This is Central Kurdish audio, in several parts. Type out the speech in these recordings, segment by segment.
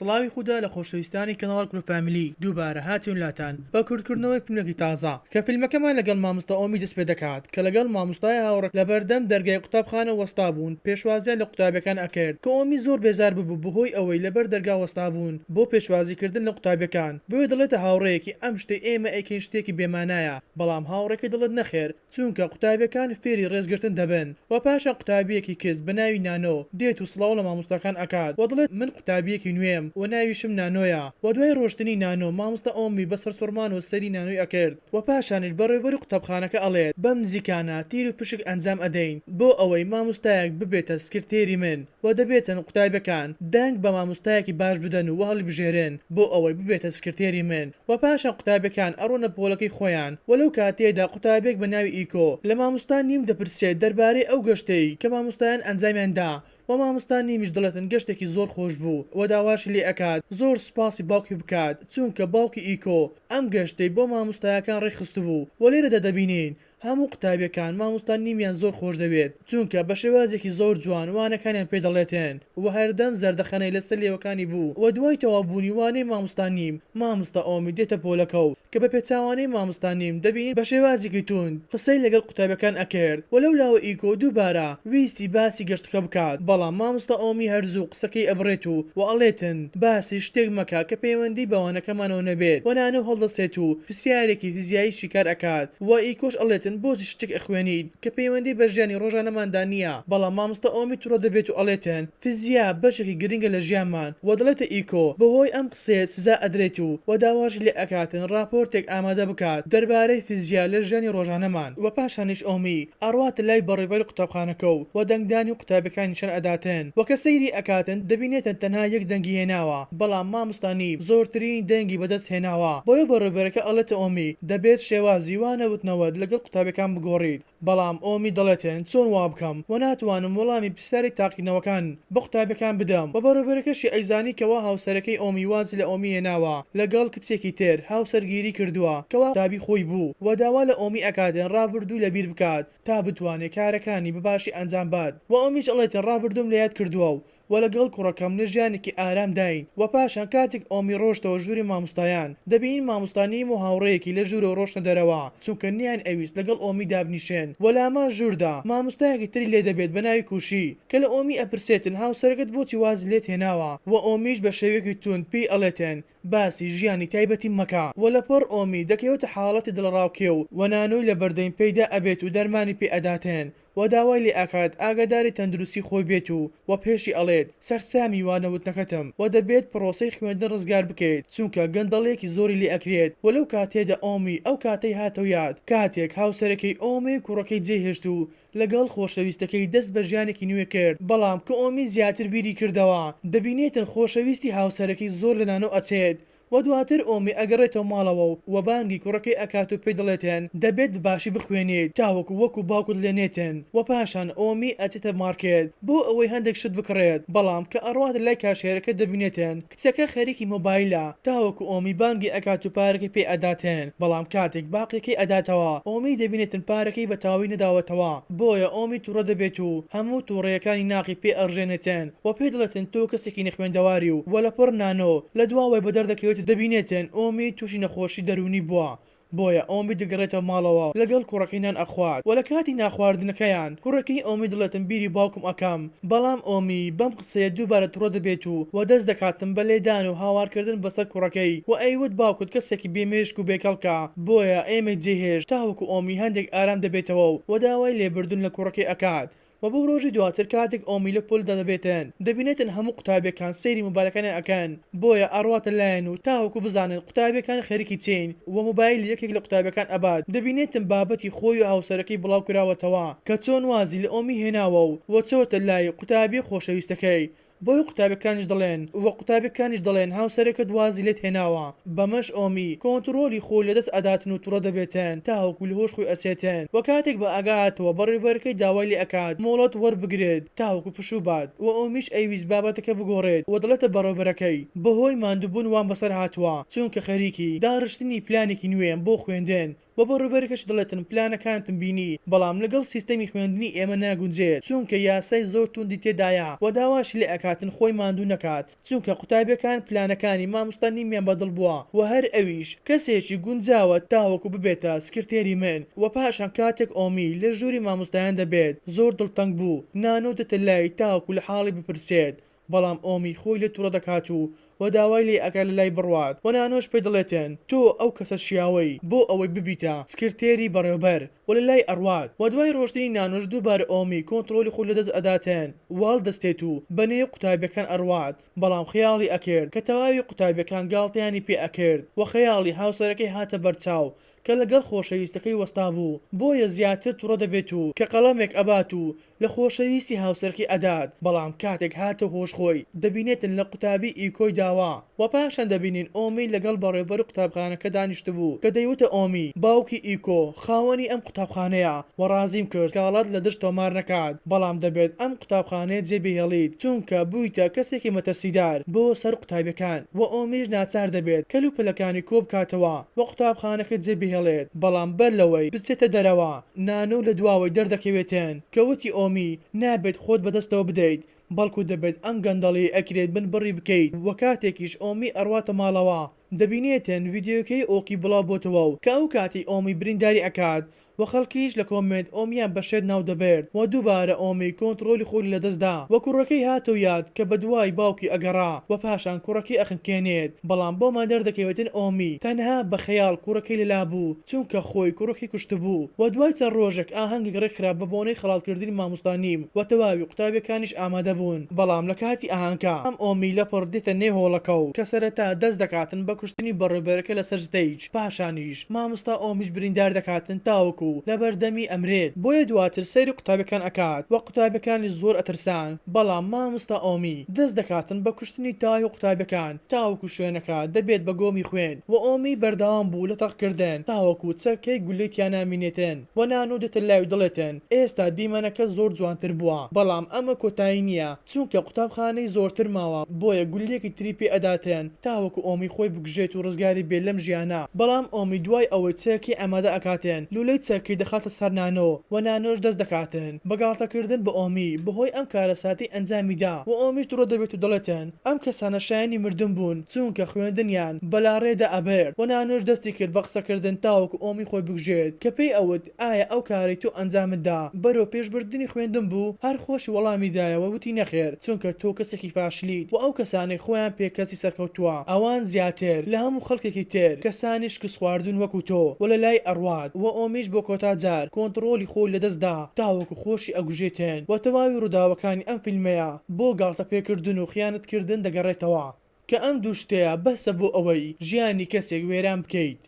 سڵاوی خودا لە خۆشەویستانی کەناڵ کورە فامیلی دووبارە هاتوین لاتان بە کورت کردنەوەی فیلمێکی تازە کە فیلمەکەمان لەگەڵ ماموستا ئۆمی دەست پێ دەکات کە لەگەڵ ماموستای هاوڕێ لە بەردەم دەرگای قوتابخانە وەستا بوون پێشوازیان لە قوتابیەکان ئەکرد کە ئۆمی زۆر بێزار ببوو بەهۆی ئەوەی لە بەر دەرگا وەستا بوون بۆ پێشوازی کردن لە قوتابیەکان بۆیە دەڵێتە هاوڕێیەکی ئەم شتەی ئێمە ئەیکەین شتێکی بێ مانایە بەڵام هاوڕێکەی دەڵێت نەخێر چونکە قوتابیەکان فێری ڕێز گرتن دەبن وە پاشان قوتابیەکی کچ بە ناوی نانۆ دێت و سڵاو لە مامۆستاکان ئەکات وە دەڵێت من قوتابیەکی نوێم وە ناویشم نانۆیە وە دوای ڕۆشتنی نانۆ مامۆستا ئۆمی بە سەرسوڕمانەوە سەیری نانۆی ئەکرد وە پاشانیش بەڕێوبەری قوتابخانەکە ئەڵێت بەم نزیکانە تیر و پشک ئەنجام ئەدەین بۆ ئەوەی مامۆستایەک ببێتە سکرتێری من وە دەبێتن قوتابیەکان دەنگ بە مامۆستایەکی باش بدەن و وەهەڵیبژێرن بۆ ئەوەی ببێتە سکرتێری من و پاشان قوتابیەکان ئەڕۆنە پۆلەکەی خۆیان و لەو کاتەیەدا قوتابیەک بە ناوی ئیکۆ لە ماموستا نیم دەپرسێت دەربارەی ئەو گەشتەی کە ماموستایان ئەنجامیان دا و ماموستا نیمیش دەڵێتن گەشتێکی زۆر خۆش بوو و داواشی لێ ئەکات زۆر سوپاسی باوکی بکات چوونکە باوکی ئیکۆ ئەم گەشتەی بۆ ماموستایەکان ڕێکخستبوو و لێرەدا دەبینین هەموو قوتابیەکان مامۆستا نیمیان زۆر خۆش دەوێت چونکە بە شێوازێکی زۆر جوان وانەکانیان پێ دەڵێتێن وە هەردەم زەردەخەنەی لەسەر لێوەکانی بوو وە دوای تەواو بوونی وانەی مامۆستا نیم مامۆستا ئۆمی دێتە پۆلەکەو کە بە پێچاوانەی مامۆستا نیم دەبینین بە شێوازێکی توند قسەی لەگەڵ قوتابیەکان ئەکرد وە لەو لاوە ئیکۆ دووبارە ویستی باسی گەشتەکە بکات بەڵام مامۆستا ئۆمی هەر زوو قسەکەی ئەبڕێت و وە ئەڵێتن باسی شتێک مەکە کە پەیوەندی بە وانەکەمانەوە نەبێت وە نانەو هەڵدەستێت و سیارێکی فیزیایی شیکار ئەکات وە ئیکۆش ئەڵێتن بۆچی شتێک ئەخوێنیت کە پەیوەندی بە ژیانی ڕۆژانەماندا نیە بەڵام مامۆستا ئۆمی توڕە دەبێت و ئەڵێتن فیزیا بەشێکی گرنگە لە ژیانمان وە دەڵێتە ئیکۆ بەهۆی ئەم قسەیە سزا ئەدرێت و وە داواشی لێ ئەکاتن ڕاپۆرتێک ئامادە بکات دەربارەی فیزیا لە ژیانی ڕۆژانەمان وە پاشانیش ئۆمی ئەڕواتە لای بەڕێوەبەری قوتابخانەکە و وە دەنگدانی قوتابیەکان نیشان ئەداتن وە کە سەیری ئەکاتن دەبینێتن تەنها یەک دەنگی هێناوە بەڵام ماموستا نیب زۆرترین دەنگی بەدەست هێناوە بۆیە بەڕێوبەرەکە ئەڵێتە ئۆمی دەبێت شێوازی وا نەوتنەوەت لەگەڵ قوتابیەکان بگۆڕیت بەڵام ئۆمی دەڵێتن چۆن وابکەم وە ناتوانم وەڵامی پرسیاری تاقیکردنەوەکان بە قوتابیەکان بدەم وە بەڕێوبەرەکەشی ئەیزانی کەوا هاوسەرەکەی ئۆمی وازی لە ئۆمی هێناوە لەگەڵ کچێکی تر هاوسەرگیری کردووە کەوا قوتابی خۆی بوو وە داوا لە ئۆمی ئەکاتن ڕابردوو لەبیر بکات تا بتوانێت کارەکانی بەباشی ئەنجام بات وە ئۆمیش ئەڵێتن ڕابردووم لەیاد کردووە و و لەگەڵ کوڕەکەم لە ژیانێکی ئارام داین و پاشان کاتێک ئۆمی ڕۆشتەوە ژووری ماموستایان دەبینین ماموستا نیم و هاوڕێیەکی لە ژوورەوە ڕۆشتە دەرەوە چونکە نیان ئەویست لەگەڵ ئۆمی دابنیشێن و لامان ژووردا ماموستایەکی تری لێ دەبێت بە ناوی کوشی کە لە ئۆمی ئەپرسێتن هاوسەرەکەت بۆچی وازی لێت هێناوە و ئۆمیش بە شێوەیەکی توند پێی ئەڵێتن باسی ژیانی تایبەتیم مەکە و لە پەڕ ئۆمی دەکەوێتە حاڵەتی دڵەڕاوکێ و و نانۆی لە بەردەین پەیدا ئەبێت و دەرمانی پێ ئەداتێن و داوای لێ ئەکات ئاگاداری تەندروستی خۆی بێت و و پێشی ئەڵێت سەرسامی وانە وتنەکەتم و دەبێت پڕۆسەی خوێندن ڕزگار بکەیت چونکە گەندەڵیەکی زۆری لێ ئەکرێت و لەو کاتەیەدا ئۆمی ئەو کاتەی هاتەوە یاد کاتێک هاوسەرەکەی ئۆمی کوڕەکەی جێ هێشت و لەگەڵ خۆشەویستەکەی دەست بە ژیانێکی نوێ کرد، بەڵام کئۆمی زیاتر بیری کردەوە، دەبینێتن خۆشەویستی هاوسەرەکەی زۆر لە نانۆ ئەچێت و دواتر ئۆمی ئەگەڕێتەوە ماڵەوە و و بانگی کوڕەکەی ئەکات و پێی دەڵێتن دەبێت بە باشی بخوێنیت تاوەکو وەکو باوکت لێ نێتن و پاشان ئۆمی ئەچێتە مارکێت بۆ ئەوەی هەندێک شت بکڕێت، بەڵام کە ئەڕوات لای کاشێرەکە دەبینێتن. کچەکە خەریکی مۆبایلە تاوەکو ئۆمی بانگی ئەکات و پارەکەی پێ ئەداتن بەڵام کاتێک باقیەکەی ئەداتەوە ئۆمی دەبینێتن پارەکەی بە تەواوی نەداوەتەوە بۆیە ئۆمی توڕە دەبێت و هەموو توڕەیەکانی ناقی پێ ئەڕژێنێتن وە پێ دەڵێتن تۆ کەسێکی نەخوێندەواری و لەپڕ نانۆ لە دوا وای بەدەر دەکەوێت و دەبینێتن ئۆمی توشی نەخۆشی دەروونی بووە بۆیە ئۆمی دەگەڕێتەوە ماڵەوە و لەگەڵ کوڕەکەی نان ئەخوات و لە کاتی نانخواردنەکەیان کوڕەکەی ئۆمی دەڵێتم بیری باوکم ئەکەم بەڵام ئۆمی بەم قسەیە دووبارە توڕە دەبێت و وە دەست دەکاتم بە لێدان و هاوارکردن بەسەر کوڕەکەی و ئەیوت باوکت کەسێکی بێ مێشک و بێ کەڵکە بۆیە ئێمەی جێهێشت تاوەکو ئۆمی هەندێک ئارام دەبێتەوە و داوای لێبردن لە کوڕەکەی ئەکات و بۆ ڕۆژی دواتر کاتێک ئۆمی لە پۆلدا دەبێتن دەبینێتن هەموو قوتابیەکان سەیری مۆبایلەکانیان ئەکەن بۆیە ئەڕواتە لایان و تاوەکو بزانن قوتابیەکان خەریکی چین و مۆبایلی یەکێک لە قوتابیەکان ئەبات دەبینێتن بابەتی خۆی و هاوسەرەکەی بڵاو کراوەتەوە کە چۆن وازی لە ئۆمی هێناوە و چۆتە لای قوتابیە خۆشەویستەکەی بۆیە قوتابیەکانیش دەڵێن وە قوتابیەکانیش دەڵێن هاوسەرەکەت وازی لێت هێناوە بەمەش ئۆمی کۆنتڕۆلی خۆی لەدەست ئەداتن و توڕە دەبێتن تاوەکو لەهۆش خۆی ئەچێتن وە کاتێک بە ئاگاهاتەوە بەڕێوبەرەکەی داوای لێ ئەکات مۆڵەت وەربگرێت تاوەکو پشوو بات وە ئۆمیش ئەیویست بابەتەکە بگۆڕێت وە دەڵێتە بەڕێوبەرەکەی بەهۆی ماندوبون وام بەسەر هاتوە چونکە خەریکی داڕشتنی پلانێکی نوێم بۆ خوێندن وە بۆ ڕووبەرەکەش دەڵێتن پلانەکانتم بینی بەڵام لەگەڵ سیستەمی خوێندنی ئێمە ناگونجێت چونکە یاسای زۆر توندی تێدایە وە داواشی لێ ئەکاتن خۆی ماندوو نەکات چونکە قوتابیەکان پلانەکانی ماموستا نیمیان بە دڵ بووە وە هەر ئەویش کەسێکی گونجاوە تاوەکو ببێتە سکرتێری من وە پاشان کاتێک ئۆمی لە ژووری ماموستایان دەبێت زۆر دڵتەنگ بوو نانۆ دێتە لای تاوەکو لە حاڵی بپرسێت بەڵام ئۆمی خۆی لێ توڕە دەکات و وە داوای لێ ئەکات لە لای بڕوات وە نانۆش پێ دەڵێتێن تۆ ئەو کەسە شیاوەی بۆ ئەوەی ببیتە سکرتێری بەڕێوبەر وە لە لای ئەڕوات وە دوای ڕۆشتنی نانۆش دووبارە ئۆمی کۆنتڕۆلی خۆی لە دەست ئەداتێن واڵ دەستێت و بە نێو قوتابیەکان ئەڕوات بەڵام خەیاڵی ئەکرد کە تەواوی قوتابیەکان گاڵتەیانی پێ ئەکرد وە خەیاڵی هاوسەرەکەی هاتە بەرچاو کە لەگەڵ خۆشەویستەکەی وەستابوو بۆیە زیاتر توڕە دەبێت و کە قەڵەمێک ئەبات و لە خۆشەویستی هاوسەرەکەی ئەدات بەڵام کاتێک هاتە هۆش خۆی دەبینێتن لە قوتابی ئیکۆی داوە وە پاشان دەبینین ئۆمی لەگەڵ بەڕێوبەر قوتابخانەکە دانیشتبوو کە دەیوتە ئۆمی باوکی ئیکۆ خاوەنی ئەم قوتابخانەیە وە ڕازیم کرد سکاڵات لە دژ تۆمار نەکات بەڵام دەبێت ئەم قوتابخانەیە جێ بهێڵیت چونکە بویتە کەسێکی مەترسیدار بۆ سەر قوتابیەکان وە ئۆمیش ناچار دەبێت کەل و پەلەکانی کۆ بکاتەوە و قوتابخانەکە جێبهێڵێت، بەڵام بەر لەوەی بچێتە دەرەوە، نانۆ لە دواوەی دەردەکەوێتن، کە وتی ئۆمی، نابێت خۆت بەدەستەوە بدەیت، بەڵکو دەبێت ئەم گەندەڵیەی ئەکرێت بنبڕی بکەیت، وە کاتێکیش ئۆمی ئەڕواتە ماڵەوە، دەبینێتن ڤیدیۆکەی ئۆکی بڵاو بۆتەوە و کە ئەو کاتەی ئۆمی برینداری ئەکات و خەڵکیش لە کۆمێنت ئۆم یان بە شێت ناو دەبرد و دووبارە ئۆمی کۆنتڕۆلی خۆی لە دەست دا و کوڕەکەی هاتەو یاد کە بە دوای باوکی ئەگەڕا و پاشان کوڕەکەی ئەخنکێنێت بەڵام بۆمان دەردەکەوێتن ئۆمی تەنها بە خەیاڵ کوڕەکەی لە لا بوو چونکە خۆی کوڕەکەی کوشتبوو و دوای چەند ڕۆژێک ئاهەنگێک ڕێک خرا بە بۆنەی خەڵات کردنی مامۆستا نیم و تەواوی قوتابیەکانیش ئامادە بوون بەڵام لە کاتی ئاهەنگا ئۆمی لەپڕ دێتە نێو هۆڵەکەو کە سەرەتا دەست دەکاتن بە کوشتنی بەڕێوبەرەکە لە سەر ستەیج. پاشانیش ماموستا ئۆمیش بریندار دەکاتن تاوەکو لەبەر دەمی ئەمرێت بۆیە دواتر سەیری قوتابیەکان ئەکات وە قوتابیەکانیش زۆر ئەترسان بەڵام ماموستا ئۆمی دەست دەکاتن بە کوشتنی تاهی قوتابیەکان تاوەکو شوێنەکە دەبێت بە گۆمی خوێن وە ئۆمی بەردەوام بوو لە تەق کردن تاوەکو چەکەی گولەی تیا نامینێتن وە نانۆ دێتە لایو دەڵێتن ئێستا دیمەنەکە زۆر جوانتر بوە بەڵام ئەمە کۆتایی نیە چونکە قوتابخانەی زۆرتر ماوە بۆیە گوللەیەکی تری پێ ئەداتێن تاوەکو ئۆمی خۆی بکوژێت و ڕزگاری بێت لەم ژیانە بەڵام ئۆمی دوای ئەوەی چەکی ئامادە ئەکاتێن لولەی چەکی دەخاتە سەر نانۆ وە نانۆش دەست دەکاتن بە گاڵتە کردن بە ئۆمی بەهۆی ئەم کارەساتەی ئەنجامی دا وە ئۆمیش دڕۆ دەبێت و دەڵێتن ئەم کەسانە شایەنی مردن بوون چونکە خوێندنیان بەلاڕێدا ئەبرد وە نانۆش دەستی کرد بە قسەکردن تاوەکو ئۆمی خۆی بکوژێت کە پێی ئەوت ئایا ئەو کارەی تۆ ئەنجامت دا بەرەو پێش بردنی خوێندن بوو؟ هەر خۆشی وەڵامی دایەوە وتی نەخێر چونکە تۆ کەسێکی فاشلیت وە ئەو کەسانەی خۆیان پێ کەسی سەرکەوتووە ئەوان زیاتر لە هەموو خەڵکێکی تر کەسانی شکست خواردون وەکو تۆ وە لە لای ئەڕوات وە ئۆمیش بۆ کۆتا جار کۆنتڕۆڵی خۆی لە دەست دا تاوەکو خۆشی ئەگوژێتێن وە تەواوی ڕوداوەکانی ئەم فیلمەیە بۆ گاڵتە پێ کردن و خیانەت کردن دەگەڕێتەوە کە ئەم دوو شتەیە بەسە بۆ ئەوەی ژیانی کەسێک وێران بکەیت.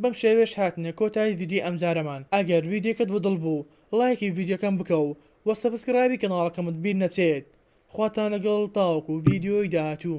بەم شێوەیەش هاتینە کۆتایی ڤیدیۆی ئەمجارەمان ئەگەر ڤیدیۆکەت بە دڵ بوو ڵایکی ڤیدیۆکەم بکە و وە سەبسکرایبی کەناڵەکەمت بیر نەچێت خواتان لەگەڵ تاوەکو ڤیدیۆی داهاتوو.